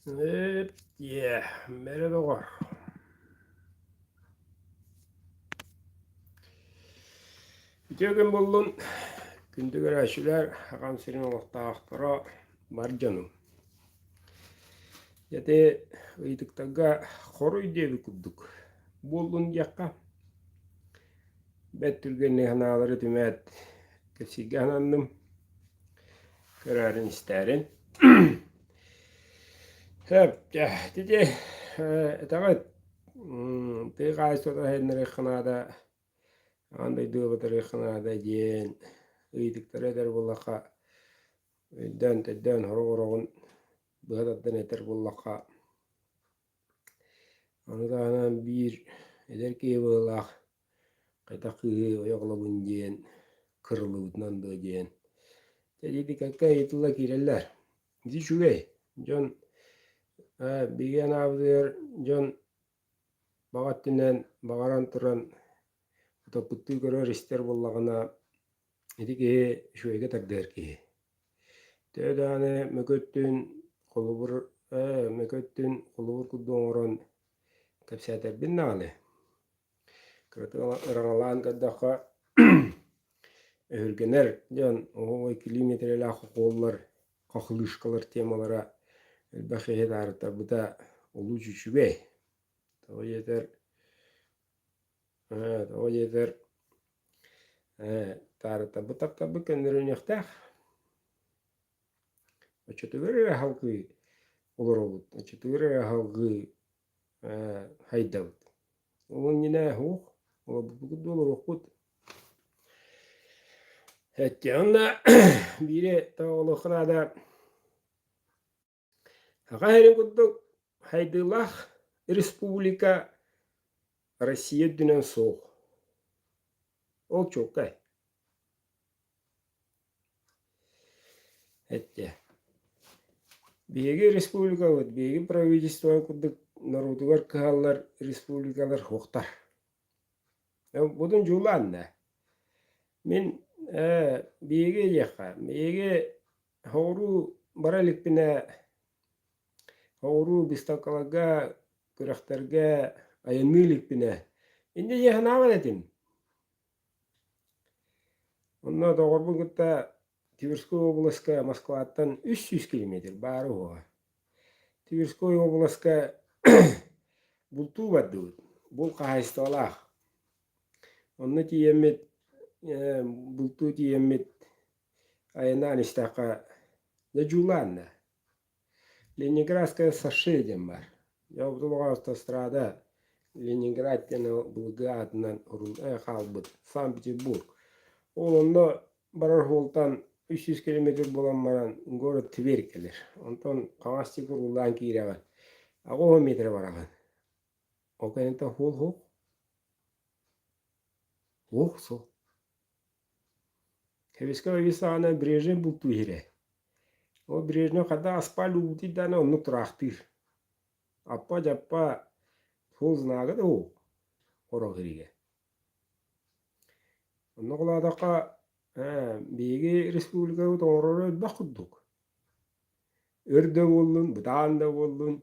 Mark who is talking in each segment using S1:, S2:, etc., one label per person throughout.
S1: Эп-тиэ, бэрэ доҕор Үтүө күн буллун күндү көрөөччүлэр аҕам сирин олохтоохторо бар дьонум Ити ыйытыктарга хоруй диэбит курдук буоллун диэххэ бэрт түргэнник санаалары түмээт кэпсииргэ сананным Кыраарин истээрин Сөптө. Ити этэҕит тыа хаһаайыстыбата сайыннарыахха наада, аан дойду батарыахха наада диэн ыйытыктары этэр буоллахха, өйдөөн, төйдөөн сорох ороҕун быһа тардан этэр буоллахха, аны таһынан биир эдэр киһи быһыылаах Хайдах кыыһы ойоҕолобун диэн, кырыллыбытынан дуо диэн, сэртипикакка ыйытылла киирэллэр. Дьэ үчүгэй, дьон ээ биһиги анаабытыгар дьон баҕа өттүнэн баҕаран туран утоппуттуу көрөр истэр буоллаҕына, ити киһи үчүгэйгэ тардыһар киһи. Төһө даҕаны мөкү өттүн холобур ээ мөкү өттүн холобур курдук оҥорон кэпсээтэрбин даҕаны Ыраҥалаан көрдөххө өһүргэнэр дьон ой килии миэтэрэлээх укуоллар хахлыышкалар темалара элбэх иһи таарыттарбыта олус үчүгэй тоҕо диэтэр тоҕо диэтэр таарыттарбыт таптарбыт көннөрүнүөхтээх оччотугар эрэ аһалгыы олоробут оччотугар эрэ аһалгыы Хайдабыт? Ол иннинэ уһук, олорбуппут да олоруохпут. Онно биири тоҕо олуохха наада саха иһэрин курдук хайдыылаах республика Россия үрдүнэн суох. Ол чуолкай. Эттэ. Биһиги республикабыт, биһиги правительство курдук норуотугар кыһаллар республикалар суохтар. Будун дьуулаан да. Мин биһиги диэххэ, биһиги хоҕуруу бара иликпинэ хоҕуруу быыстапкаларга, күрэхтэргэ айанныы иликпинэ, инде дьиэ санаабын этим. Онно доҕорбун кытта Тверской областка Москваттан үс сүүс километр баара уһуоҕа. Тверской областка бултуу бардыбыт, булт хаһаайыстыбалаах. Онно тиийэммит бултуу тиийэммит айаннаан истэххэ дьодьулаан да Ленинградская сашия диэн баар. Дьообутун оҕо автострада Ленинград диэн былыргы аатынан орунай хаалбыт Санкт-Петербург. Ол онно барар уолтан үс сүүс километр буолан баран город Тверь кэлэр. Онтон хаҥастык уруулаан киирэҕин. Аҕа уон метрэ бараҕын. Ол кэнниттэн уол уһук. Уһук суох. Кэбискэ Вячеславовна Брежнев бултуу иһирэ. Ол Брежнев хата аспааль уутуй даана оннук тураахтыыр. Аппа дьаппа хул знагы да уу орогириге. Онно кылаатахха биһиги республикабыт оҥорору элбэх курдук. Өр да буоллун, бытаан да буоллун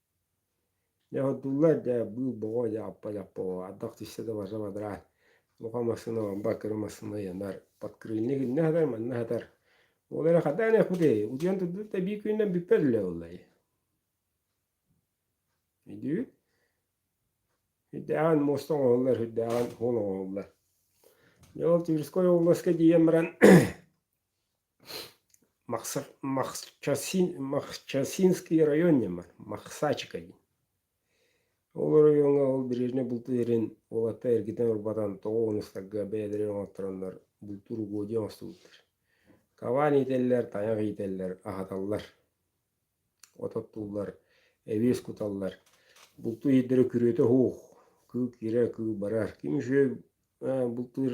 S1: Неотдуллар да быыл боҕо яппа-яппаҕа ардах тиссе да барса бадараа лука массыына бамбаа кыра массыына ыйанар подкрыльник иннэ сатар манна сатар ол эрэ хатаан эккутей утуйан турдут да биир күнүнэн бүппэт үлэ уллай үдүү үрдээҕин муоста оҥоһуллар үрдээҕин суол оҥоһуллар дьэ ол тверской обласка тиийэн баран Махчасинский район диэммэр Махсачыка диин ол оройуоҥҥа ол бережнай бултуерин уолатта эргитэн урбатан тоҕо оҥостарга бэйэлэрэ оҥостороннор бултуур угодья оҥостубуттар кабан иитэллэр тайах иитэллэр аһаталлар от оттууллар эбиэс куталлар булту иһиттэрэ күрүөтэ оһуох кыыл киирэ кыыл барар ким үчүгэй бултуур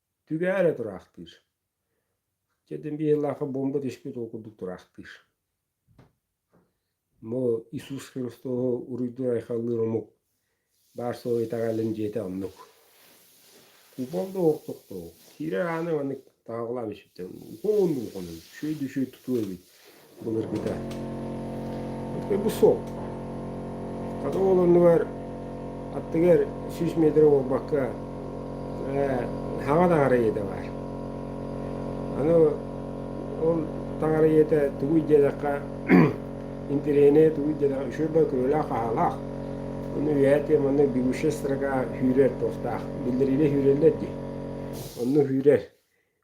S1: Түгэһэрэ тураахтыыр. Чэтин биһилаха бомба түспүт ол курдук тураахтыыр. Бу Иисус Христосу уруйдуур айхаллыыр омук баар суола итэҕэлин дьиэтэ оннук. Купол да уоктук туу. Киирэр ааны маннык таҕалаан үсүттэн уһун улхунун, шөй дүшөй тутуу эбит. былыргыта. Бу суол. Хата ол оннугар аттыгар сүүс метр буолбакка хаҥа таҥара ийэтэ баар. Аны ол таҥара ийэтэ тугуй диэтэххэ интеллигенэ тугуй диэтэххэ үшүрбэ күрүөлээх-хаһаалаах. Ону үөһэтэ манна бегущая строка сүүрэр туостаах. Биллэриилэ сүүрэллэр дии. Онно сүүрэр.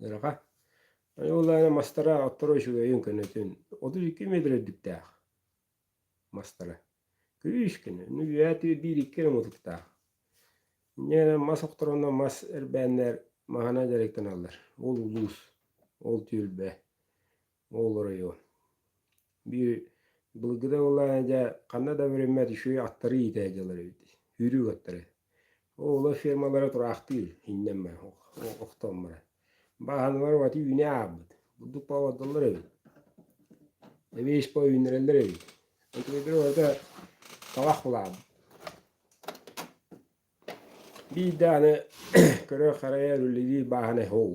S1: Ыраха. Ойуулаана мастара отторо үчүгэйин-көнөтүн отут икки метр үрдүктээх мастара. Күрүүскүнү, үһүөтү биир-икки омутуктаах. Иннинэ мас охторонно мас эрбээннэр маһына дьарыктаналлар. Ол улуус, ол түөлбэ. ол оройу биир былыргы да буоллар дьэ ханна да бэриммэт үчүгэй аттары иитэ дьалар эбит үүрүү аттары оҕолор фермалара тураахтыыр иннэммэ охтоммура бааһыналар уоти үүнэ аабыт бурдук паабадаллар эбит эбиис по үүннэрэллэр эбит отведер уота талах булаабыт биир дааны көрө харайа рулевир бааһына ол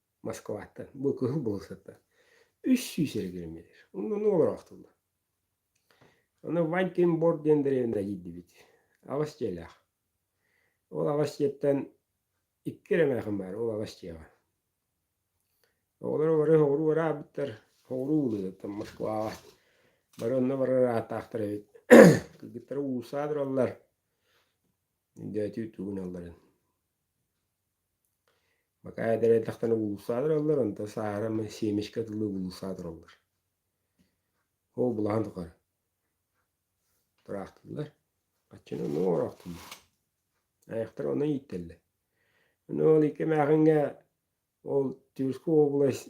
S1: Москваттан, бу кыһыл былысаттан үс сүүс эрэ километр. Онно олороохтуллар. Ону Вантинбор диэн дэриэбинэҕэ тиийдибит. Аҕыс дьиэлээх. Ол аҕыс дьиэттэн икки эрэ эмээхин баар, ол аҕыс дьиэҕэ. Оҕолоро бары соҕуруу ыраабыттар, соҕуруу уулуссаттан Москваҕа бары онно барар ааттаахтар эбит. Кыргыттара уулуссаҕа тураллар. Өндөөтүү тугуналларын. Бакаайа да эрдэхтэринэ булуусаа тураллар, онтон сааһыра семечка дылы булуусаа тураллар. Ол булаһан тухары тураахтыыллар. Хаччыны оннук оҥороохтууллар. Айахтара онно ииттэллэр. Ону ол икки эмээхиҥҥэ ол Тюрьскую область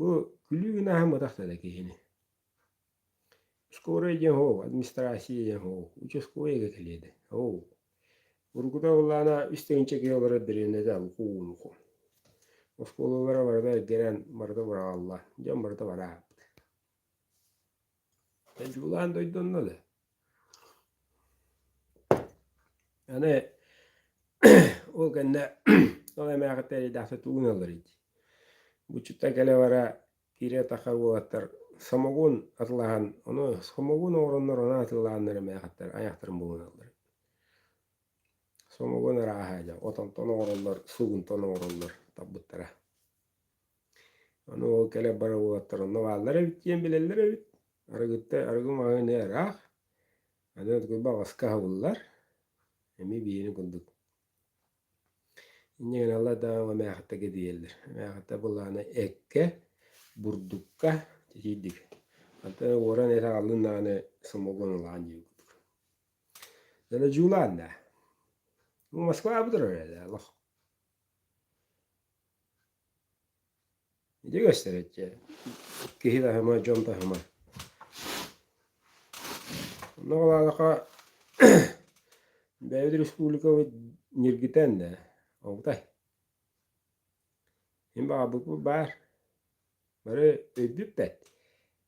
S1: Бу күлүү гына аһымматах да киһини. Скорая диэн оо, администрация диэн оо, участковайга кэлиэдэ. Оо, урукута улаана истэҥчэ киһи олорор дэриэбинэтэ улуу-нуку. Оскуолалара барыта эргэрэн, барыта быраҕылла, дьон барыта бараабыт Дьулаан дойду онно да аны ол кэннэ ол эмээхиттэр эйдээхтик тулуналлар ити Бучуттан кэлэ-бара киирэ-тахха уолаттар самогон атылаһан ону самогон оҥороннор анан атыылаһаннар эмээхиттэр айахтарын булуналлар Самогон арааһа дьэ отонтон оҥороллор, сугунтан оҥороллор таппыттара Аны ол кэлэ бара уоттар онно бааллар эбит диэн билэллэр эбит. Арыгыта арыгы маҕаһыыны ыраах, аны куйба аҕаска аһабыллар. Эми биһиэни курдук. Инньэ гынан алла да эмээхиттэргэ диэллэр. Эмээхиттэр былаана эккэ, бурдукка титийдик. Атын уоран эт ааллын даҕаны сомоҕон ылаан диир курдук. Дэнэ дьуулаан да. Москва абытыр эрэ да олох. Ити көстөрө дьэ киһи таһыма, дьон таһыма. Онно ол аалаха бэйэбит республикабыт ньиргитэн да обутай. Мин баҕарбыппыт баар. Бары өйдүппэт,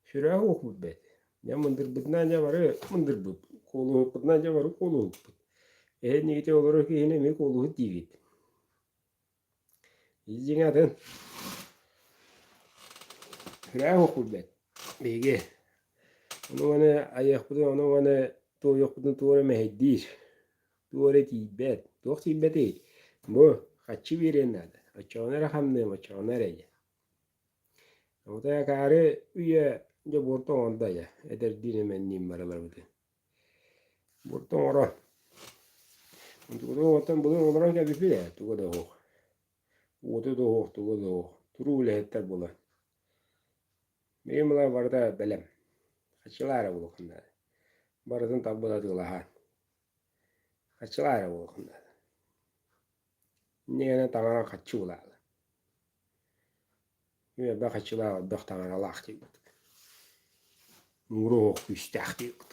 S1: сүрэҕи уокпут бэт. Дьэ мындырбытынан дьэ бары мындырбыт, куолуһукпутунан дьэ бары куолуһукпут. Иһин иннигитэ олорор киһини эмиэ куолуһу диибит. Дьиҥ атын. Күрээх укулбет биһиги. Ону маны айыахпытын, ону маны туойуохпутун тугу эрэ мэһэйдиир, тугу эрэ тиийбэт. Туох тиийбэтий? Бу хаччы биэриэн наада. Оччоҕуна эрэ хамныам, оччоҕуна эрэ ийэ. Абытай акаары үйэ дьобуор тоҥон да ийэ. Эдэрдиин эмэнниин барыларбытын. Бурта оҥоро. Онтукутук оҥортон былыр оҥорон кэбиспит ээ, туга да оһуох. Уота да оһуох, туга да оһуох. Туруу үлэһиттэр буолан. Миигин булан барыта бэлэм. Хаччылаа эрэ буолуоххун наада. Барытын тарбан атыылаһаан. Хаччылаа эрэ буолуоххун наада. Иннигэнэ таҥара хаччы улаалан, үөрбэ хаччылаах ордох таҥаралаах диэбит, муҥура оһох күүстээх диэбит.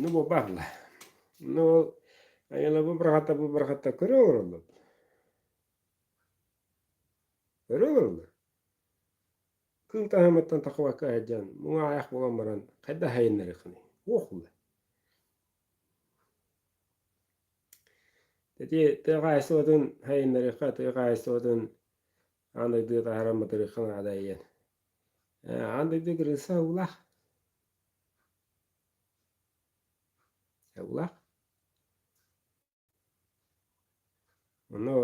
S1: Ну бу баалла. Ну ол айылабы быраҕата бу быраҕата көрө олороллор. Көрө олороллор. Кыыл таһымыттан тахыбакка сылдьан муҥа аайах буолан баран хайда сайыннарыхыный? Уох уле. Ити тыа хаһаайыстыбатын хайыннарыахха, тыа хаһаайыстыбатын аан дойду таһаран батарыахха наада ийэн. Э, аан дойду кырыса улах. Улах. Ону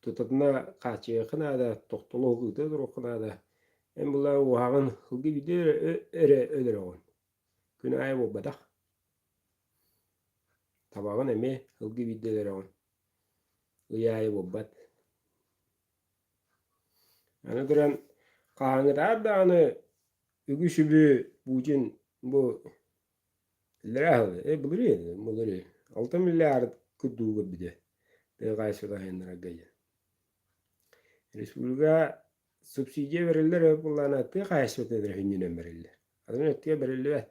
S1: тутатына хааччыйыахха наада, тохтолох ыыта туруохха наада. Эн була уһаҕын, ылгы бүдө эрэ өлөрөҕүн. Күн аайы буолбатах. Табаҕын эмиэ ылгы биирдэ өлөрөҕүн, ый аайы буолбат. Аны туран хаһааҥҥытаат даҕаны үгүс-үбү Путин бу былырыын алтан миллиард кырдуу көрбүтэ тыа хаһаайыстыбалаһыаннарга диэн. Республика субсидия бэриллэр ол буоллаҕына тыа хаһаайыстыбатыгар сүнньүнэн бэриллэр. Атын өттүгэр бэриллибэт.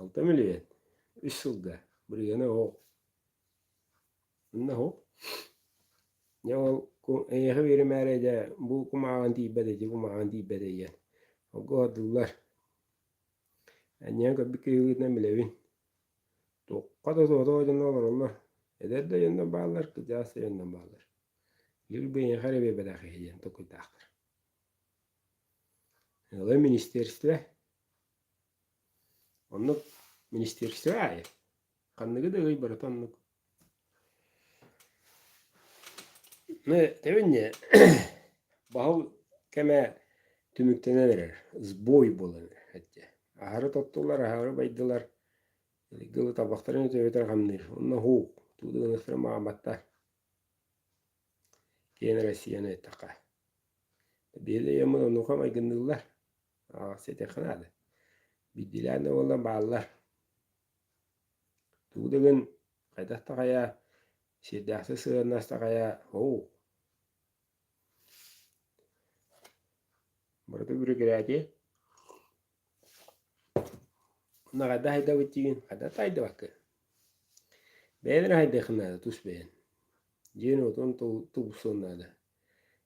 S1: Алта миллион үс сылга биригэни оһох инна оһох дьэ ол эйиэхэ биэримээри дьэ бу кумааҕын тиийбэт эти кумааҕын тиийбэт эйиэн холку оһордуллар анньыан көрбүт киһилиитинэн билэбин туохха да соҕотох дьоно олороллор эдэр да дьонно бааллар кырдьаҕас да дьонно бааллар лир биһиэхэ эрэ биэрбэтэх иһи диэн толкуйдаахтар ыла министерство Оннук министерство аайы ханныгы да ый барыта оннук. Ну, тэбинне баһыл кэмэ түмүктэнэн эрэр, сбой буолан эрэр этте. Аһары тоттулар, аһары байдылар, гылы табахтарын өтөбөтөр хамныыр. Онно хуук, тууду гыныстарын мааматтар. Киэн Россияны эттэхэ. Биһилэ өйөммүн оннука майгынныыллар. ситэххинэ аны биирдиилээн да буоллар бааллар тугу да гын хайдах таҕайа сиэрдээхсит сыһыаннас таҕайа оу барыта бүрүкэрээти наҕайда хайдабыт тигин хайда тайдабаккын бэйэн эрэ хайдыаххын наада тус бэйэн дьиэн отон тубуссуон наада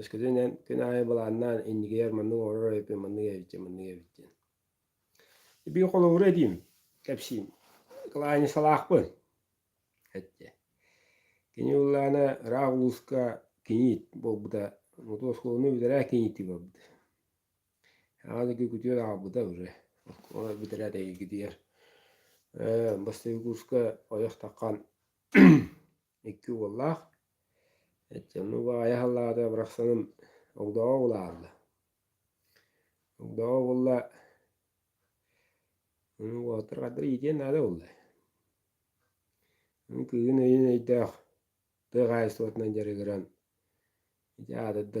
S1: Өскөтүн эн күн аайы былааннаан иннигиһэр маннык оҥорор эбиппин маннык эбиттин маннык эбиттин Эбии холобура этиим, кэпсиим. Кылаанньысалаахпын эттэ. Кини уллаана ыраах улууска киниит буолбута, мотуо оскуоланы бүтэрээ кинииттик барбыта. Аҕа дойду күтүөр аҕалбыта уже. Олор бүтэрээт эйигитигэр бастакы курска ойох таххан икки уоллаах. Эттэммин убаҕайа халлаата бырахсаным огдоҕо улаалла. Огдоҕо уолла аны уолтар хардары иитиэн наада буолла. Аны кыыһын өйүн өйдөөх тыа хаһаайыстыбатынан дьарыгыран ити аатырда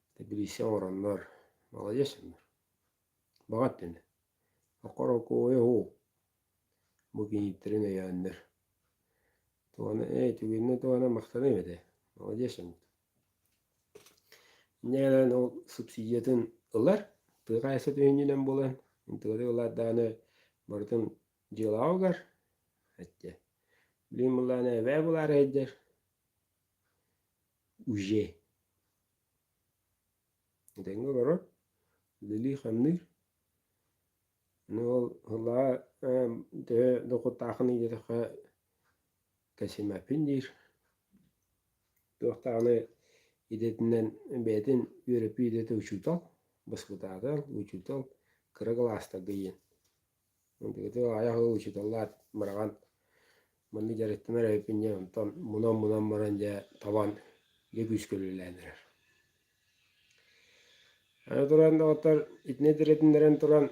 S1: Тэбилиисэ оҥороннор, маладьыас гыннар. Баҕа өттүнэн. Окорокуойа уу. Бу киһиттэрин өйөөннөр. Тугана, ээ, түгүннү тугана махтаныам этэ. Маладьыас гыннар. Иннинэн ол субсидиятын ылар, тыа хаһаайыстыба өйүнэн булан, ынтыгытык ылаат даҕаны барытын дьыалаҕыгар эттэ. Билигин буллаҕына эбээ булаары сылдьар. уже тэҥҥэ олорор үлэлии хамныыр аны ол ылаа төһө дохуоттааххын диэтэххэ кэсимэппин диир туохтааҕыны идэтинэн бэйэтин үөрөппүт идэтэ учуутал баскытаатал учуутал кыра кылаастарга диэн Итигити аайа ол учууталлаат быраҕан маннык дьарыктанар эбиппин диэн онтон мунан-мунан баран дьэ табан дьэ күүскэ үлэлээн эрэр. Аны туран доҕоттор итини тирэтиннэрэн туран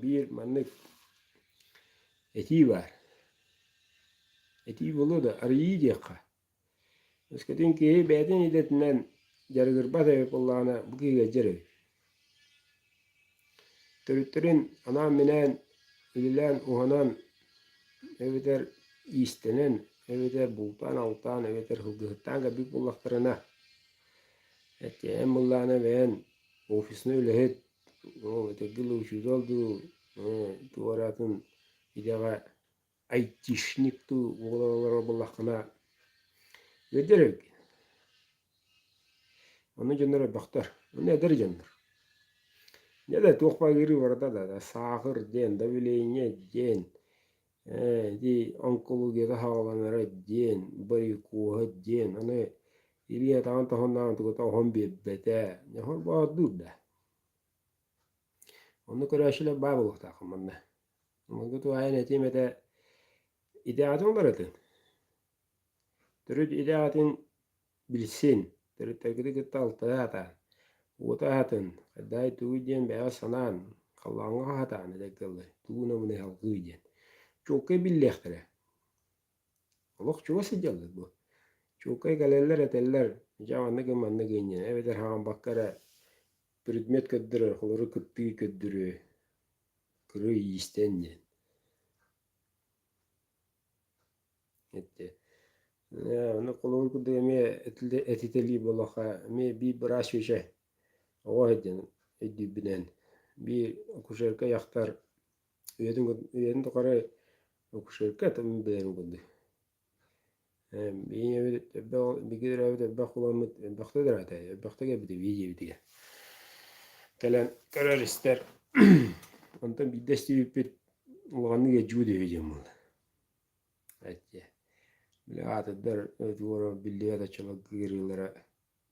S1: биир маннык этии баар. Этии буолуо да арыйыы диэххэ Өскөтүн киһи бэйэтин идэтинэн дьарыгырбат эбит буоллаҕына, бу киһигэ дьэр өй. Төрүттэрин анаан-минээн үлэлээн уһанан эбэтэр иистэнэн эбэтэр бултаан-алтаан эбэтэр ылгыһыттаан кэлбит буоллахтарына, эттээн быллаана бэйэн офисно үлэһит, ол этэргэ учуутал дуу, туора атын идэҕэ айтишник дуу олоро буоллаххына өдөр эргин ону дьоннор элбэхтэр ону эдэр дьоннор Неда туох багыры барда да саахыр диэн давление диэн ди онкологията хааланара диэн барикуоһа диэн аны Ирина таан тоһуннаан тугута оһон биэрбэтэ нехор баардыыр да Ону көрөөчүлэр баа болуохтаах манна Майгы туһаайан этиим этэ, итэҕэтиҥ барытын. Төрүт итэҕэтин билсин, төрүттэргити кытта алтыһа сатаан, уота аһатын, хайдах тугуй диэн бэйэҕэ санаан, халлааҥҥа аһатаан этэр тыллар тугу намыны салгыы диэн чуолкай биллиэхтэрэ. Олох чугас сылдьаллар бу. Чуолкай кэлэллэр этэллэр дьэ маннык маннык иннинэ эбэтэр хаамбакка эрэ предмет көрдөрөр холору кыттыы көрдөрүү Кырыы иистээн диэн эттэ аны холобур курдук эмиэ этитэлии буоллахха эмиэ би быраас үөчэ оҕо сылдьан өйдүүрбүнэн би акушерка дьахтар үйэтин үйэтин тухары акушерка бэйэҥ курдук Ийэбит элбэх бииргэ төрөөбүт элбэх уламмыт элбэхтэ төрөөтө элбэхтэ кэлбитэ биир ийэбитигэр кэлэн көрөр-истэр онтон биирдэ истибиппит улаханнык эдьигүй үһү диэн буолла эдьиэ били аатырдар одуора биллибэт аччаларга ыарыылара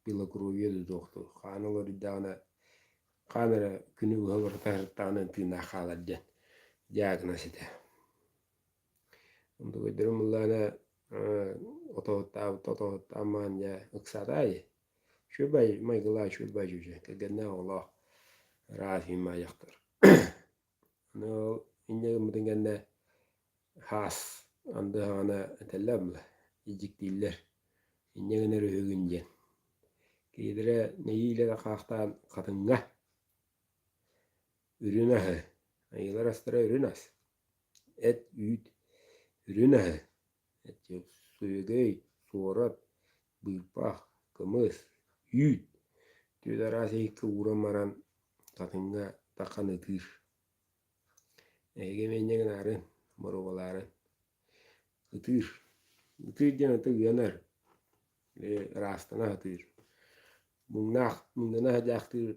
S1: белокровье додуохтур хаана уларыйдаҕына хаан эрэ күнү быһа уларыта сырыттаҕына тыыннаах хаалар диэн диагноз этэ Дугуйдурум ыллаана отоһуттаан маан дьэ ыксаатаайы Чуйбай майгылаах Чуйбай дьүдьэ кэргэннээх оҕолоох араас ньымаайахтар аны ол инньэ гыммытын кэннэ хаас анда саҕана этэллэр була иджиктииллэр инньэ гынар үһүгүн диэн киһилэрэ нэһиилэ хаахтаан хатыҥҥа үрүн аһы айыылар астара үрүн ас Эт, үүт үрүн аһы, сүйүгэй, суорат, быыпаах, кымыс, үүт түөрт араас иһиккэ ууран баран хатыҥҥа тархан ытыыр. Эһиги миэнньэ гынаарын, боруобалаарын ытыыр. Ытыыр диэн ата ыанар, ыраастана сатыыр. Муҥнаах, муҥнана садьаахтыыр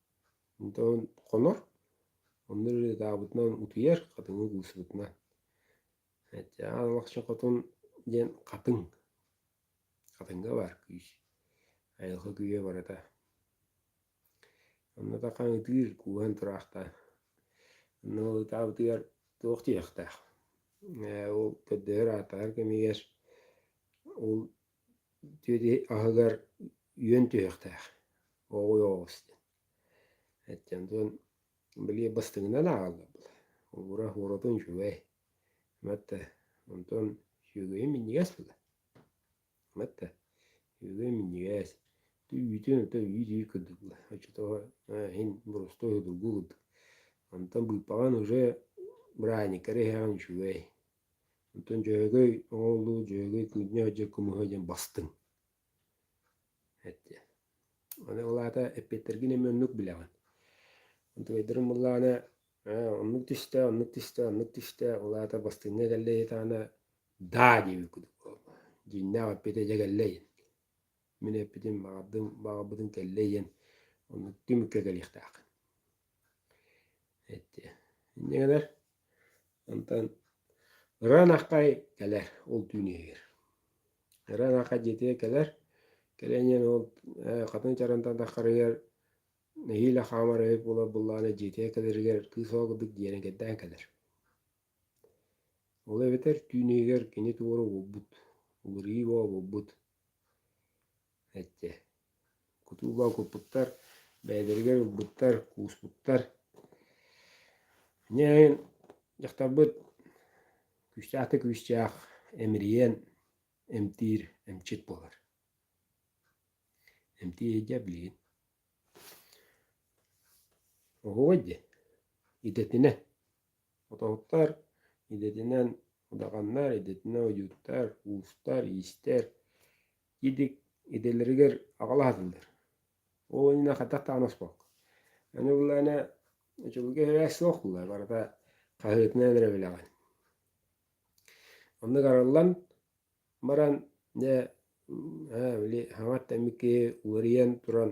S1: Онтон хонор, онно ырыатаабытынан утуйар, хатыҥы куусубутунан. Чаан лахча хотун диэн хатыҥ, хатыҥга баар күүс, айылҕа күйэ барыта. Онно тахан ытыыр, кууһан тураахтаан, онно ол ытаабытыгар туох диэхтээх. Ээ, ол көрдөһөр, ааттаһар кэмигэр ол Тиэти аһыгар үөн түһүөхтээх, уоҕуй оҕус диэн. Аттан туран били бастыҥынан ааҕаллар. Ура уоратын үчүгэй. Матта онтон сүөгэйи минньигэс буолар. Матта сүөгэй минньигэс. Үүтүн ата үүт-үүт курдук оччотооҕу иһин боростуой судургу курдук. Онтон быыппаҕан уже бырааһынньыктары иһэҕин үчүгэй. Оттон дьөөгөй оҕолуу дьөөгөй кыынньа сылдьар кумуһа диэн бастыҥ. Эттэ. Аны ол аата эппиэттэргин эмиэ оннук билэҕин. Утуйдарын буллаҕына ээ оннук түстэ, оннук түстэ, оннук түстэ. Ол аата бастыҥҥа кэллэ диэтэҕинэ даа диэбит курдук буолла. Дьиҥнээх эппиэтэ дьэ кэллэ диэн. Мин эппитим, баҕардым, баҕарбытын кэллэ ийэн, онно түмүккэ кэлиэхтээххин. Эттэ. Инньэ гынар. Онтон Ырыан Аккай кэлэр, ол түүн иһигэр. Ырыан Аккай дьиэтигэр кэлэр. Кэлэн ийэн ол хатын чарантан таххарыгар нэһиилэ хаамар эбит буолар былааны дьиэтигэр кэлэригэр кыыс ол курдук дьиэнэн кэрдээн кэлэр. Ол эбэтэр түүн иһигэр кини туора уурбут, былыргы бообурбут эттэ: «Кутуу боокурпуттар, бэйэлэригэр ылбыттар, кууспуттар. Дьэ дьахтарбыт күүстээх-күүстээх эмирийэн эмтиир эмчит буолар. Эмтиир дьэ билигин оһуой диэн идэтинэ Отоһуттар идэтинэн удаҕаннар, идэтинэн ойууттар, уустар, иистэр идик идэлэригэр аҕал аһатыллар. Ол иннинэ хатах даҕаны оспокко. Аны ыллаана очулуга эһээ суох буолла, барыта хаһыытынан эрэ билэҕин. Оннук арыллан баран дьэ ээ били хаҥат тэммит киһи уларыйан туран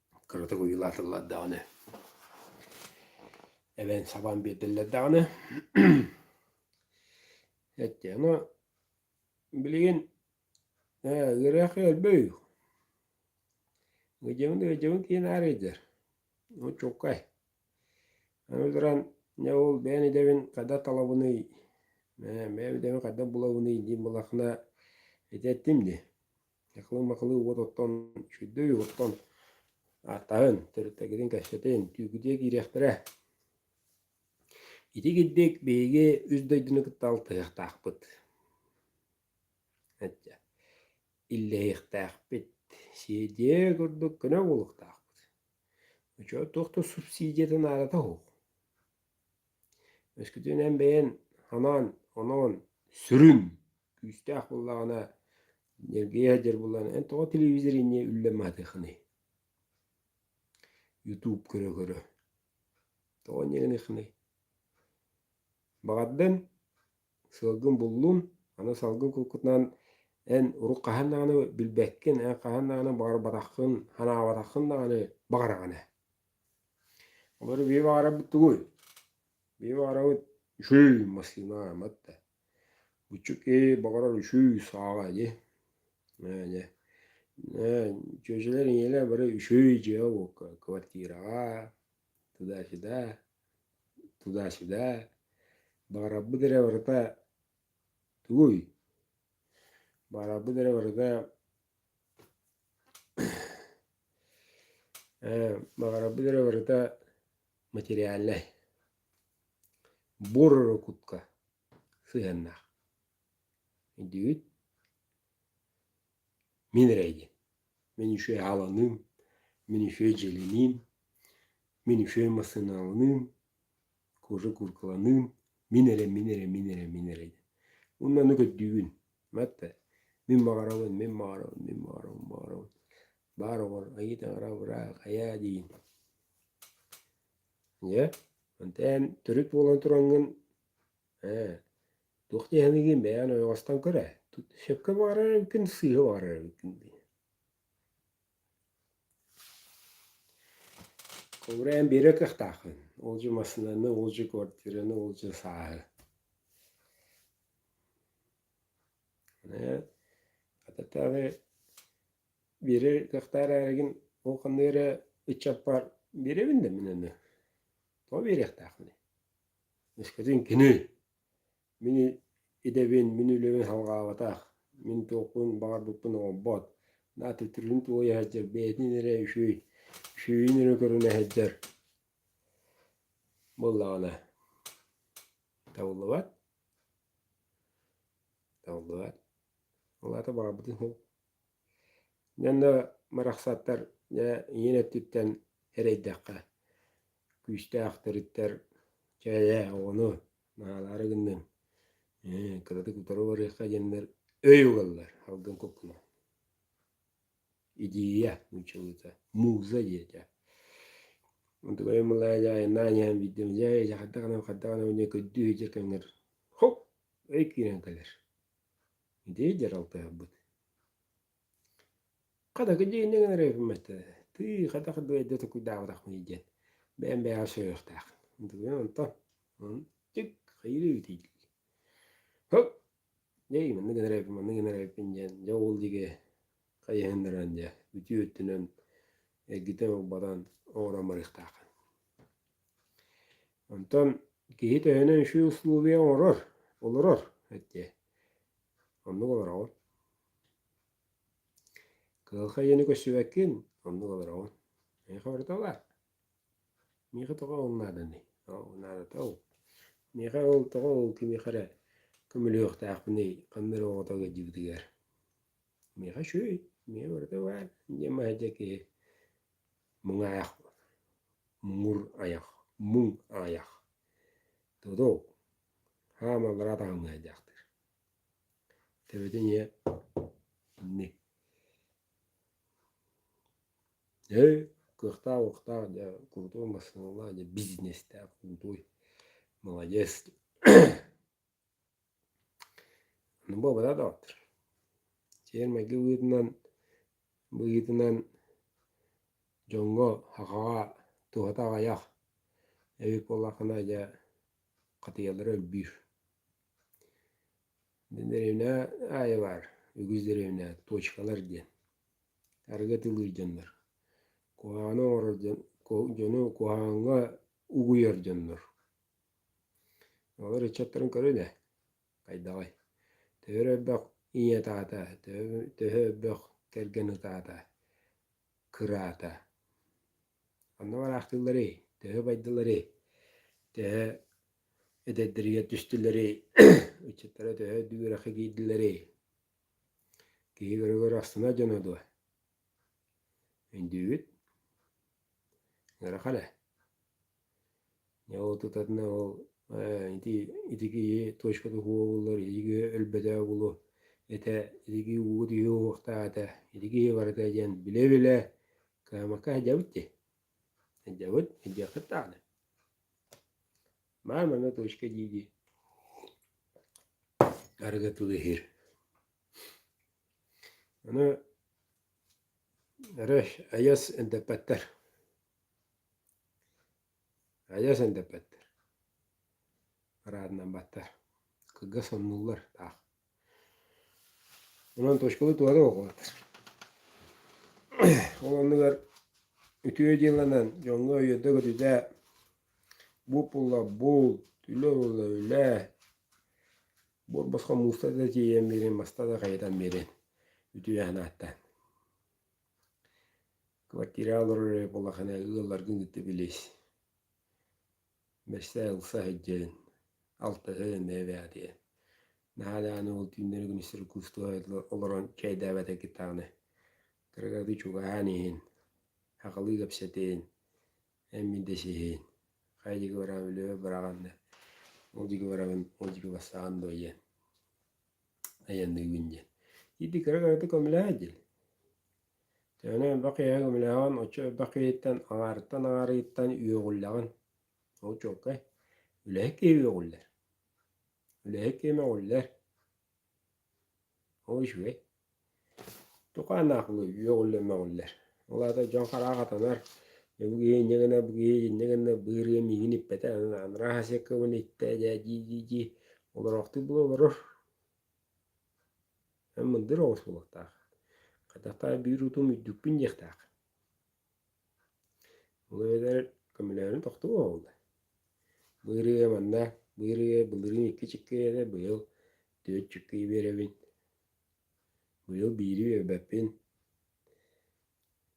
S1: кыратык ойуулаатыллар даҕаны эбэн сабаан биэрдэллэр даҕаны эттэ ону билигин ээ ыраах өлбөй ыдьабын ыдьабын киин аарыйдар очуккай аны туран дьэ ол бэйэн идэбин хата талабыный ээ бэйэм идэбин хата булабыный диэн былахына этэттим дии Ньахылы-махылы уот оттон, үчүгэйдик оттон, ааттаһын, төрүттэргитин кэпсэтин, түүгүдүө киириэхтэрэ. Ити кирдик биһиги үс дойдуну кытта алтыһыахтаахпыт. Этчэ, иллэһиэхтээхпит, сиэдиэ курдук көнө буолуохтаахпыт. Очоо туох да субсидиятын аадата уһук. Өскөтүнэн бэйэн анаан, оноон, сүрүн күүстээх буоллаҕына, ньиргийэ сылдьар буоллаҕына, эн тоҕо телевизоринньа үллэн маһытыаххыный? Ютуб көрө-көрө. Тоҕо ньыгыныххыный? Баҕардан сыалгын буллун, аны салгын кулкутунан эн урут хаһан даҕаны билбэккин, эн хаһан даҕаны баҕарбатаххын, санаабатаххын даҕаны баҕараҕын ээ. Олору бии баарабыт тугуй? Бии баарабыт үчүүй массыына амат да. Буччук ээ баҕарар үчүүй сааҕа ини. Ээ дьэ ээ дьүөдьэлэр ийэлэр бары үчүүй дьиэ буолуохха квартираҕа туда-сюда туда-сюда баарабыт эрэ барыта тугуй? Баарабыт эрэ барыта Баҕарабыт эрэ барыта материальнай. Буор эрэ кутка сыһыаннаах. Өйдүүгүт? Мин эрэ диэн. Мин үчүгэй ааланыым, мин үчүгэй дьиэлэниим, мин үчүгэй массыыналаныым. кожа куркаланыым мин эрэ мин эрэ мин эрэ мин эрэ уонна ону көрдүүгүн Мэтэ мин баҕарабын мин баҕарабын мин баҕарабын баҕарабын баар оҕор айыы таҥара быраах айаа диин Дьэ, онтон төрүт буолан тураҥҥын ээ туох дии саныыгын бэйэҕин ойоҕостон көрө сөпкө баҕарар эбиккин сыыһа баҕарар эбиккин дии Ховураан биэрэ кыахтааххын, ол дьэ массыынаны, ол дьэ квартираны, ол дьэ сааһы. Ээ, ататтаҕы биэрэ кыахтаах эрээри ол ханна эрэ ыччаппар биэрэбин да мин аны. Тоҕо биэриэхтээххиний? Мискэтин кини Мин идэбин, мин үлэбин салҕаабатах, мин туохпун баҕарбыппын оҥорбот, наадыйдырын туойа сылдьар, бэйэтин эрэ үчүгэй, үчүгэйин эрэ көрүнэ сылдьар буоллаҕына табыллыбат, табыллыбат. Ол аата баҕарбытын суох Уонна барахсаттар дьэ ийин өттүттэн эрэйдэххэ күүстээх төрүттэр «Чэ ээ оҕону наалаары гынныҥ ээ кыратык утары барыахха» диэннэр өй ылаллар алгын куккунан идея нууччалыыта муза диэтэ мутугай мылаа дьаайынаа диэн биирдэ дьэ дьэ хардах гынан хардах гынан диэн көрдүү сылдьар кэмҥэр хоп өй киирэн кэлэр итии дьаралтыһарбыт Хата кэдьиинэ гынан эрэ үһүммэт, тыы хатах дойда токуйдаабатахпыный диэн бэйэм бэйэҕэ сөбүөхтээх. Онтон чик хайырыы тиийдилэр. Һык дьэй манна гынар эбиппин манна гынар эбиппин диэн дьэ ол диги хайыһыннаран дьэ бүтүү өттүнэн эргитэн урбатан оҥорон барыахтааххын. Онтон киһи төһөнөн үчүгэй усулуобуйа оҥорор, олорор эттэ оннук олороҕун. Кыһалҕа диэни көрсүбэккин оннук олороҕун. Миэхэ барыта бар. Миэхэ тоҕо ол нааданый? Ол наадата ол. Миэхэ ол тоҕо ол кимиэхэ эрэ көмөлөһүөхтээхпиний ханна эрэ оҕото ыалдьыбытыгар. Миэхэ үчүгэй. Миэхэ барыта бар диэн маһайдьа киһи Муҥаайах муҥур айах муҥ аҕайах додол хаамаллара таһымҥа айдаахтыыр төбөтүн ийэ инни өй кыахтаах уохтаах дьэ крутой массыыналаах дьэ бизнестээх крутой маладец буобата доҕоттор сиэр-майгы быһыытынан быһыытынан дьоҥҥо сахаҕа туһата аҕыйах эбит буоллаххына дьэ хатыйалара үрдүүр деревня аайылаар үгүс деревня точкалар диэн арыгы атыылыыр дьоннор куһаҕаны оҥорор дьон дьону куһаҕаҥҥа угуйар дьоннор Ол ыччаттарын көрү да, хайдаҕый, төһө эрэ өрбөх ийэтэ-аата, төһө өрбөх кэргэн ытаата, кыраата, онно бараахтыылларый, төһө байдыларый, төһө эдэрдэригэр түстүлэрий, ыччаттара төһө үрэххэ киирдилэрий, киһи көрө-көрө ахсына дьоно дуо Өйдүүбүт. Ыарахан ээ. Дьэ ол тутатына ол ээ ити ити киһи точка туһу уолуллар ити киһи өлбөтөх уолу этэ ити киһи ууга түһүө уохтаата ити киһи барыта диэн билэ-билэ кыамакка сылдьабыт дии. Сылдьабыт сылдьыаххыт даҕаны. Баар манна точка дии-дии арыгы тылыһыыр. Аны эрэ айас эндэппэттэр. Айас эндэппэттэр. Араадынамбаттар. Кыргас соннуллар таах. Онон точкалыы туһанан оҕолоттор. Ол оннугар үтүө дьылынан дьоҥҥо өйөрдө көтүтэ бу пула бул, үлэ була үлэ Буорбоско мууста да тиийэн биэрин, маста да хайытан биэрин, үтүөһэн аатта. Квартира олорор эрэ буоллахына ыалларгын кытта билис. Бэстэ ылса сылдьын, алтата эмээбээтиэн. Наһаадааны ол түүннэри күн истэр кустуга олорон чэйдээбэтэ кытааны. Кыргаты чугаһаан иһин, хакылыы кэпсэтин, Эмин да сиһиин, хайа диги бараам өлөбө быраҕан да, ол диги барабын, ол диги бастаҕан дуо диэн, айанныыбын диэн. Ити кыра-кырата көмөлөһө дил. Төөнө элбэх киһи көмөлөһөҕүн, оччо элбэх киһиттэн аҥаарыттан аҥаарыыттан үөҕүллэҕин. Ол чуолкай үлэһит киһи үөҕүллэр. Үлэһит киһи мөҕүллэр. Ой-үһүй, туха анаахылы үөҕүллэр-мөҕүллэр. Ол аата дьон хараа хатанар, бу киһи инньэ гынна, бу киһи инньэ гынна, быырыйа миигин иппэтэ, анараа сиэккэбин иттэ, дьээ-дии-дии-дии олороохтук була олорор. Эн мындыр оҕус буолуохтаах. Хайдах таа биир утум үрдүкпүн диэхтээх Ол эбэтэр көмөлөһөрүн тохтуу оҕоллор. Быырыга манна быырыга былырыын икки-чикки этэ быйыл түөрт чиккии биэрэбин. Быйыл биири биэрбэппин,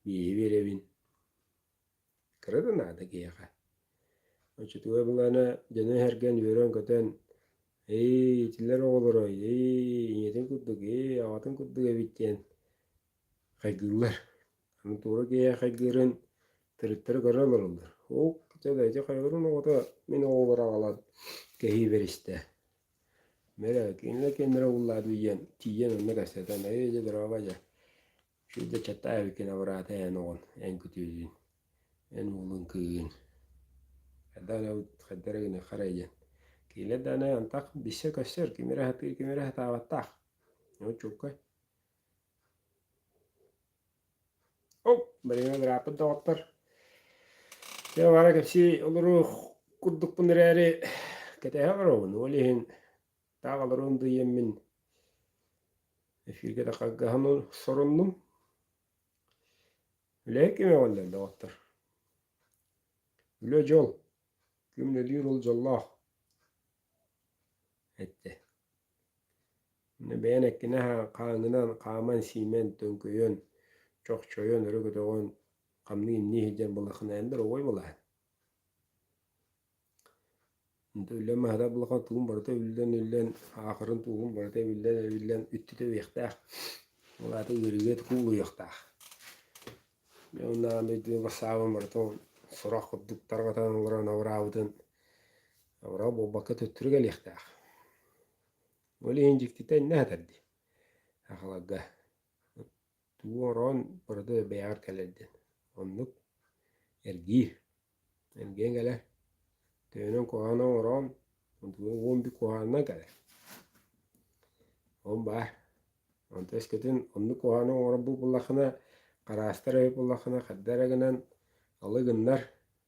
S1: биири биэрэбин. Кыра да наада киһиэхэ. Оччотугар былаана дьону эһэргэн үөрэн-көтөн «Эй итилэр оҕолоро, эй ийэтин курдук, эй аҕатын курдук эбит» диэн хайгыыллар. Мотуора киэхэгирин төрүттэрэ көрө олороллор. Ук, дьэ хайгырын оҕото мин оҕолоро аҕалан кэһии беристэ. Мэрэ кинилэр кэннэрэ уллаады диэн тиийэн онно кэпсэтэн эйэ дьэ дороба дьэ шүдэ чаттаа эбиккин абыраата эн оҕон эн күтүөтүн эн уолун кыыгын хадана хадара гына харай диэн кинилэр даана антах билсэ көстөр кимире сатаабаттаах очукка Оп, бэриниэн ырааппыт доҕоттор. Дьэ баара кэпсии олору курдукпун эрээри кэтэһэ олоробун. Ол иһин таах олоруон да иэммин эфиргэ да харгаһан соруннум. Үлэһит кими оҥоллор доҕоттор? Үлэ дьол. Күн өлүүр ол дьоллоох. эттэ бэйэн эккинэһэ хааҥҥынан хааман-сиимэн төҥкөйөн чохчойон өрө көтөҕөн хамныы имнии сылдьар балахына эн да оруобай балаһын инте үллэн маһыта балахан тугун барыта эбиллэн эбиллэн аахырын туоһун барыта эбиллэн эбиллэн үттүтэ үһүөхтээх ол аата үөрүйэ куулуйуохтаах уонна бэйдиэ басаабын барыта сорох курдук тарҕатан олорон абыраабытын Аврал буолбакка төттөрү кэлиэхтээх. Ол иһин дьиктитэ иннэ сытар дии. Ахаларга тугу ороон барды бэйэҕэр кэлэр диэн. Оннук эргиир. Эргийэн кэлэр. Төөнөн куһаана оҥороон уомби куһаанынан кэлэр. Ол баар. Онто өскөтүн оннук куһааны оҥорор бу буллаххына, хараастар өй буллаххына, харда эрэ гынан алы гыннар,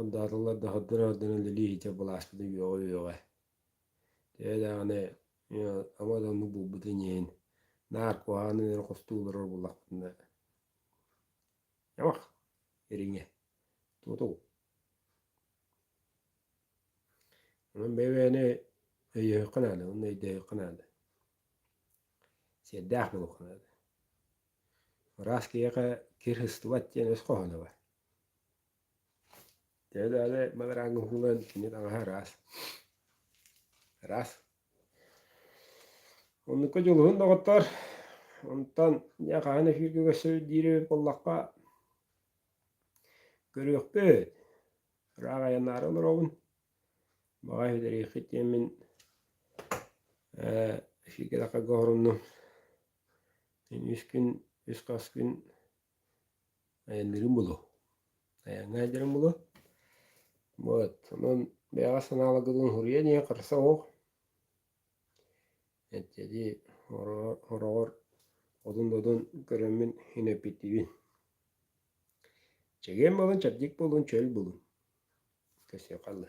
S1: Андааталар да хардана-хардана илии-иһитэ былааспыта үөҕэ-үөҕэ. Төһө даҕаны ама да оннук буолбутун иһин, наар куһаҕаны үөрэ хостуу олорор буоллахпытына, «Ньамах, ириҥэ, тутул!» Онон бэйэ-бэйэни өйөһүөххэ наада, уонна өйдөөһүөххэ наада. Сиэрдээх буолуохха наада. Ыраас киһиэхэ кир сыстыбат диэн өс хоһооно бар. Дьэ эрээри мадырааҥҥа уһугуллан кини таҥаһа ыраас. Ыраас. Оннукка дьулуһун доҕоттор. Онтон дьэ хаһан эфиргэ көрсөр диэри буоллахха көрүөхпүт. Ыраах айаннаары олоробун. Баҕа иһитэриэххит диэммин ээ эфиргэ тахсарга оһоруннум. Үс күн, үс-хас күн айанныырын булу. Айаҥҥа илдирин булу. Вот. Онон бэйэҕэ санааларгытын суруйан ийэ харса оһох. Эттиди ороҕор одун-одун көрөммүн инэппиттибин. Чэгиэн болун, чабдик болун, чөл болун. Көсүө халлы.